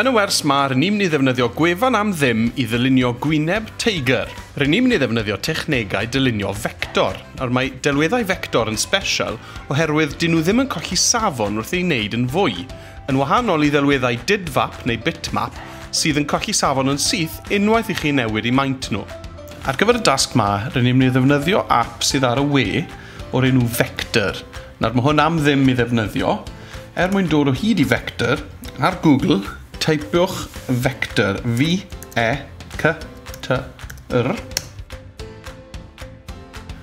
Yn y wers 'ma, rŷn ni'n mynd i ddefnyddio gwefan am ddim i ddylunio gwyneb teigr. Rŷn ni'n mynd i ddefnyddio technegau dylunio fector. Nawr, mae delweddau fector yn sbesial oherwydd dŷn nhw ddim yn colli safon wrth eu wneud yn fwy, yn wahanol i ddelweddau dydfap neu bitmap sydd yn colli safon yn syth unwaith i chi newid eu maint nhw. Ar gyfer y dasg 'ma, rŷn ni'n mynd i ddefnyddio ap sydd ar y we o'r enw Vector. Nawr, mae hwn am ddim i ddefnyddio. Er mwyn dod o hyd i Vector, ar Google, teipiwch Vector, V-E-C-T-O-R,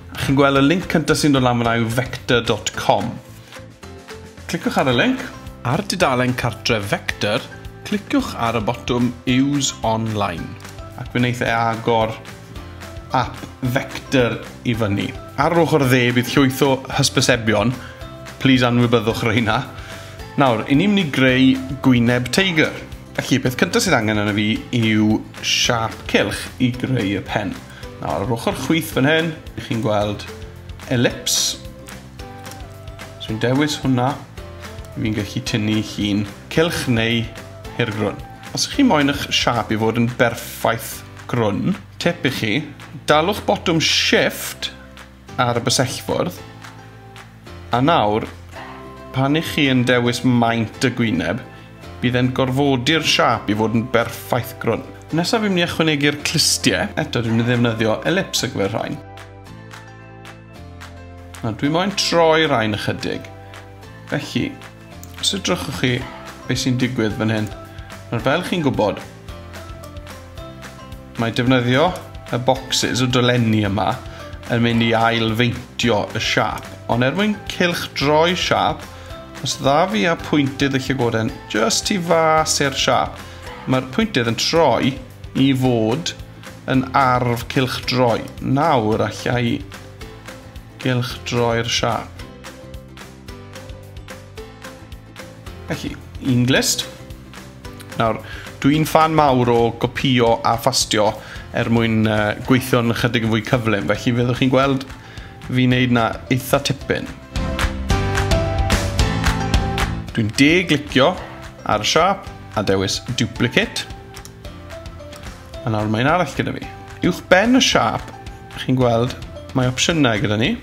a chi'n gweld y linc cyntaf sy'n dod lan fyna yw vector.com. Cliciwch ar y linc. Ar dudalen cartref Vector, cliciwch ar y botwm Use Online. Ac fe wneith e agor app Vector i fyny. Ar yr ochr dde bydd llwyth o hysbysebion Plîs anwybyddwch reina. Nawr, 'yn ni'n mynd i greu gwyneb teigr. Felly, peth cyntaf sydd angen arno fi yw siâp cylch i greu y pen. Nawr, yr ochr chwith fan hyn, i chi'n gweld elips. So i'n dewis hwnna, fi'n gallu tynnu hi'n cylch neu hirgrwn. Os ych chi moyn eich siâp i fod yn berffaith grwn, tip i chi, dalwch botwm shift ar y bysellfwrdd, a nawr, pan i chi yn dewis maint y gwyneb, bydd e'n gorfodi'r siâp i fod yn berffaith grwn. Nesaf fi'n mynd i ychwanegu'r clustie, eto dwi'n mynd i ddefnyddio elips ar gyfer rhain. Nawr, dwi moyn troi rhain ychydig. Felly, Os edrychwch chi beth sy'n digwydd fan hyn, nawr fel chi'n gwybod, mae defnyddio y bocsys o dolenni yma yn mynd i ailfeintio y siap, ond er mwyn cilch droi siap, os dda fi a pwyntydd y llygoden just tu fas i'r siap, mae'r pwyntydd yn troi i fod yn arf cilch droi. Nawr allai cilch droi'r siap. Felly, un glist. Nawr, dwi'n fan mawr o gopio a phastio er mwyn uh, gweithio'n chydig yn fwy cyflym, felly fyddwch chi'n gweld fi wneud na eitha tipyn. Dwi'n de-glicio ar y siap a dewis duplicate. A nawr mae'n arall gyda fi. Uwch ben y siap, chi'n gweld, mae opsiynau gyda ni.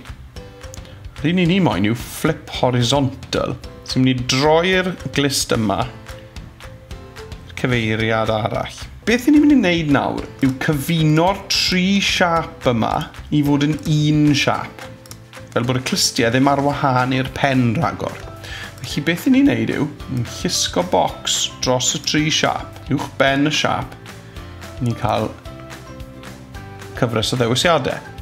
Yr un i ni moyn yw flip horizontal. So ni'n mynd i droi'r glist yma i'r cyfeiriad arall. Beth ni'n mynd i wneud nawr yw cyfuno'r tri siap yma i fod yn un siap. Fel bod y clistiau ddim ar wahân i'r pen rhagor. Felly beth ni'n wneud yw, ni'n llusgo bocs dros y tri siap, uwch ben y siap, ni'n cael cyfres o ddewisiadau.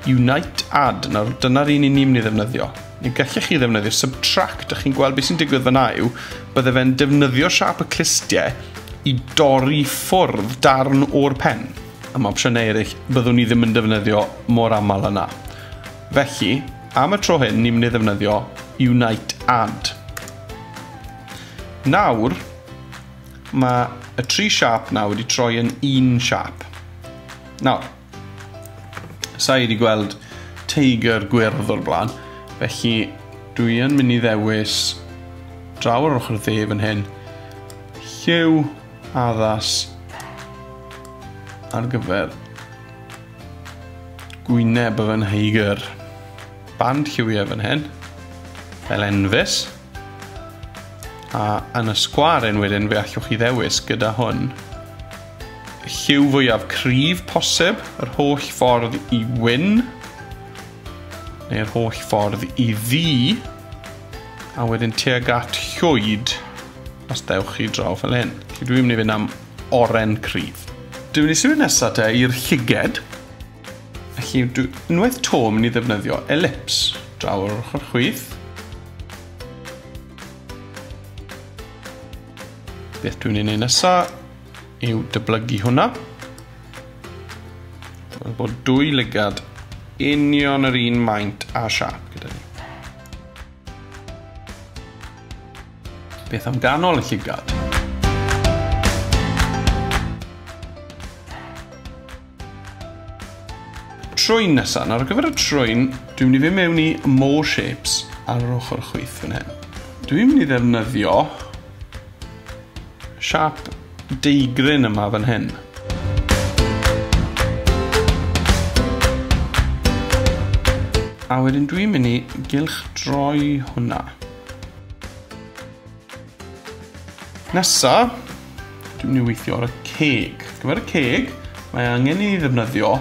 Unite add, nawr dyna'r un i ni'n mynd i ddefnyddio. Neu gallech chi ddefnyddio subtract, a chi'n gweld beth sy'n digwydd fyna yw, bydde fe'n defnyddio siap y clustiau i dorri ffwrdd darn o'r pen. Am opsiynau eraill, byddwn ni ddim yn defnyddio mor aml yna. Felly, am y tro hyn, ni'n mynd i ddefnyddio Unite add. Nawr, mae y tri siap na wedi troi yn un siap. Nawr, Sa i wedi gweld teigr gwyrdd o'r blaen, felly dwi yn mynd i ddewis draw ar ochr y dde fan hyn. Lliw addas ar gyfer gwyneb y fan heigr. Band lliwiau fan hyn, fel enfys. A yn y sgwar yn wedyn fe allwch chi ddewis gyda hwn. Lliw fwyaf cryf posib, yr holl ffordd i wyn, neu'r holl ffordd i ddi, a wedyn tuag at llwyd os dewch chi draw fel hyn. Felly dwi'n mynd i fynd am oren cryf. Dwi'n mynd i symud nesaf te i'r llyged. Felly dwi unwaith to mynd i ddefnyddio elips draw'r ochr chwith. Beth dwi'n ei wneud nesaf yw dyblygu hwnna. Dwi'n bod dwy lygad union yr un maint a siap gyda ni. Beth am ganol y llygad? Trwyn nesaf. Nawr ar gyfer y trwyn, dwi'n mynd i fynd mewn i More Shapes ar yr ochr chwith fan hyn. Dwi'n mynd i ddefnyddio siap deigryn yma fan hyn. A wedyn dwi'n mynd i gylch droi hwnna. Nesa, dwi'n mynd i weithio ar y ceg. Ar gyfer y ceg, mae angen i ni ddefnyddio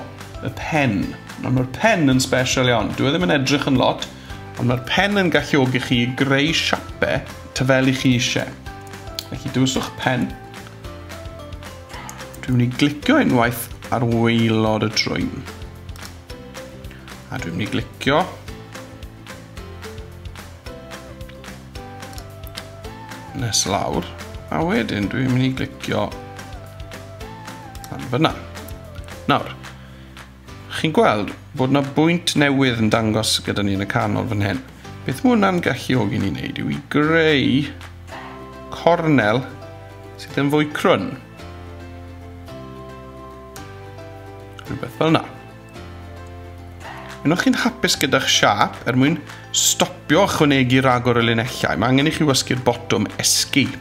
y pen. Nawr mae'r pen yn special iawn. Dwi e ddim yn edrych yn lot, ond mae'r pen yn galluogi chi greu siape ta fel i chi eisiau. Felly dywyswch pen. Dwi'n mynd i glicio unwaith ar waelod y trwyn. A dwi'n mynd i glicio Nes lawr. A wedyn dwi'n mynd i glicio am fyna. Nawr, chi'n gweld bod yna bwynt newydd yn dangos gyda ni yn y canol fan hyn. Beth mae hwnna'n galluogi ni'n neud yw i greu cornel sydd yn fwy crwn. Rhywbeth fel yna. Yno chi'n hapus gyda'ch siap er mwyn stopio chwanegu ragor o linellau. Mae angen i chi wysgu'r botwm Escape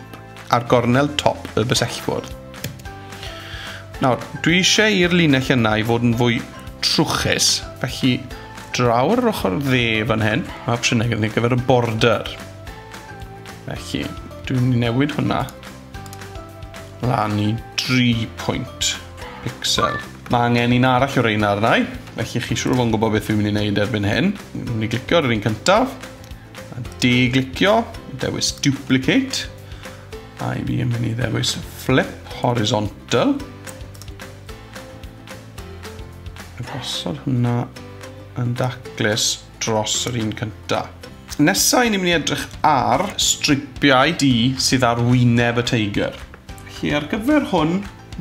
ar gornel top y bysellfwrdd. Nawr, dwi eisiau i'r linell yna i fod yn fwy trwchus, felly draw ar yr ochr dde fan hyn, mae opsiynau gyda ni gyfer y border. Felly, dwi'n newid hwnna Lan i 3 pwynt pixel. Mae angen un arall o reina arna i, felly chi siŵr fo'n gwybod beth fi'n mynd i wneud erbyn hyn. Fi'n mynd i glicio ar yr un cyntaf, a de-glicio, dewis duplicate, a i fi yn mynd i ddewis flip horizontal. Gosod hwnna yn daclus. dros yr un cyntaf. Nesa i ni'n mynd i edrych ar stripiau du sydd ar wyneb y teigr. Felly ar gyfer hwn,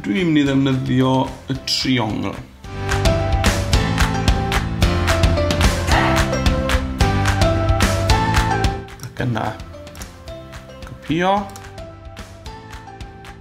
dwi'n mynd i ddefnyddio y triongl. Ac yna, copio.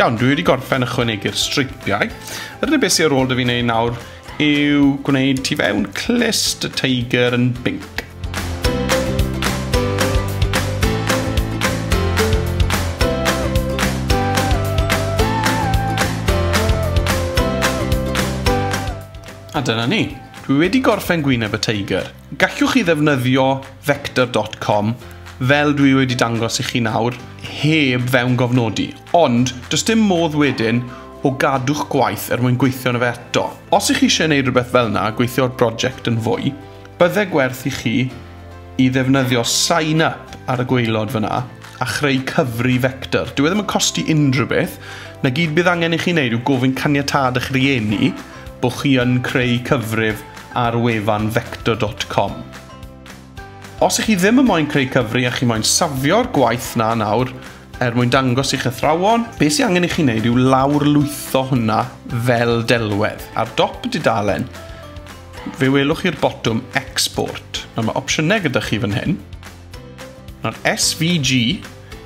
Iawn, dwi wedi gorffen ychwanegu'r streipiau. Yr unig beth sy'n ar ôl dy fi'n ei nawr yw gwneud tu fewn clust y tiger yn binc. A dyna ni. Dwi wedi gorffen gwyneb y tiger. Gallwch chi ddefnyddio vector dot com, fel dwi wedi dangos i chi nawr, heb fewngofnodi, ond does dim modd wedyn o gadw'ch gwaith er mwyn gweithio arno fe eto. Os ych chi eisiau gwneud rhywbeth fel yna a gweithio ar broject yn fwy, bydde gwerth i chi i ddefnyddio sign up ar y gwaelod fan'na a chreu cyfri vector. Dyw e ddim yn costi unrhyw beth, 'na gyd bydd angen i chi wneud yw gofyn caniatâd eich rhieni, bod chi yn creu cyfrif ar wefan vector dot com. Os ych chi ddim yn moyn creu cyfri a chi moyn safio'r gwaith na nawr er mwyn dangos i'ch athrawon, beth sy'n angen i chi wneud yw lawr lwytho hwnna fel delwedd. Ar dop y dudalen, fe welwch chi'r botwm Export. Nawr mae opsiynau gyda chi fan hyn. Nawr, SVG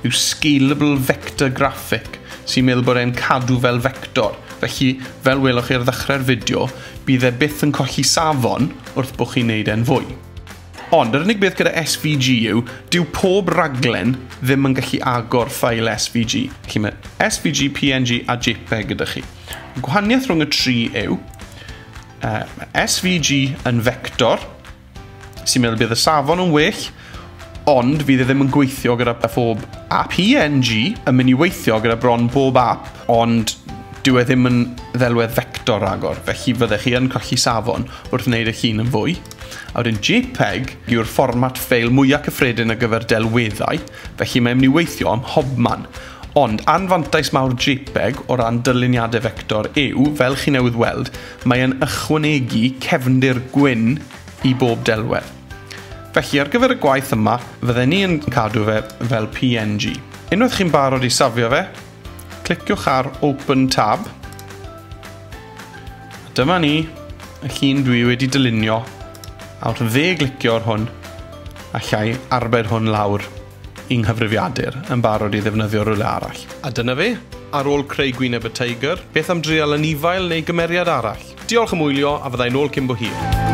yw Scalable Vector Graphic, sy'n meddwl bod e'n cadw fel vector. Felly, fel welwch chi ar ddechrau'r fideo, bydd e byth yn colli safon wrth bod chi'n neud e'n fwy. Ond, yr unig beth gyda SVG yw, dyw pob raglen ddim yn gallu agor ffail SVG. Felly mae SVG, PNG a JPEG gyda chi. Y gwahaniaeth rhwng y tri yw, uh, mae SVG yn vector, Sy'n meddwl bydd y safon yn well, ond fydd e ddim yn gweithio gyda phob app. PNG yn mynd i weithio gyda bron bob app, ond dyw e ddim yn ddelwedd vector ragor, felly fyddech chi yn colli safon wrth wneud eich hun yn fwy. A wedyn JPEG yw'r fformat ffeil mwyaf cyffredin ar gyfer delweddau, felly mae'n mynd i weithio ym mhobman. Ond anfantais mawr JPEG o ran dyluniadau vector yw, fel chi newydd weld, Mae'n ychwanegu cefndir gwyn i bob delwedd. Felly, ar gyfer y gwaith yma, fydden ni yn cadw fe fel png. Unwaith chi'n barod i safio fe, cliciwch ar Open Tab. Dyma ni, y llun dwi wedi dylunio, a wrth dde-glicio'r hwn, allai arbed hwn lawr. yng nghyfrifiadur, yn barod i ddefnyddio rywle arall. A dyna fe. Ar ôl creu gwyneb y teigr, beth am dreial anifail neu gymeriad arall? Diolch am wylio a fyddai nôl cyn bo hir.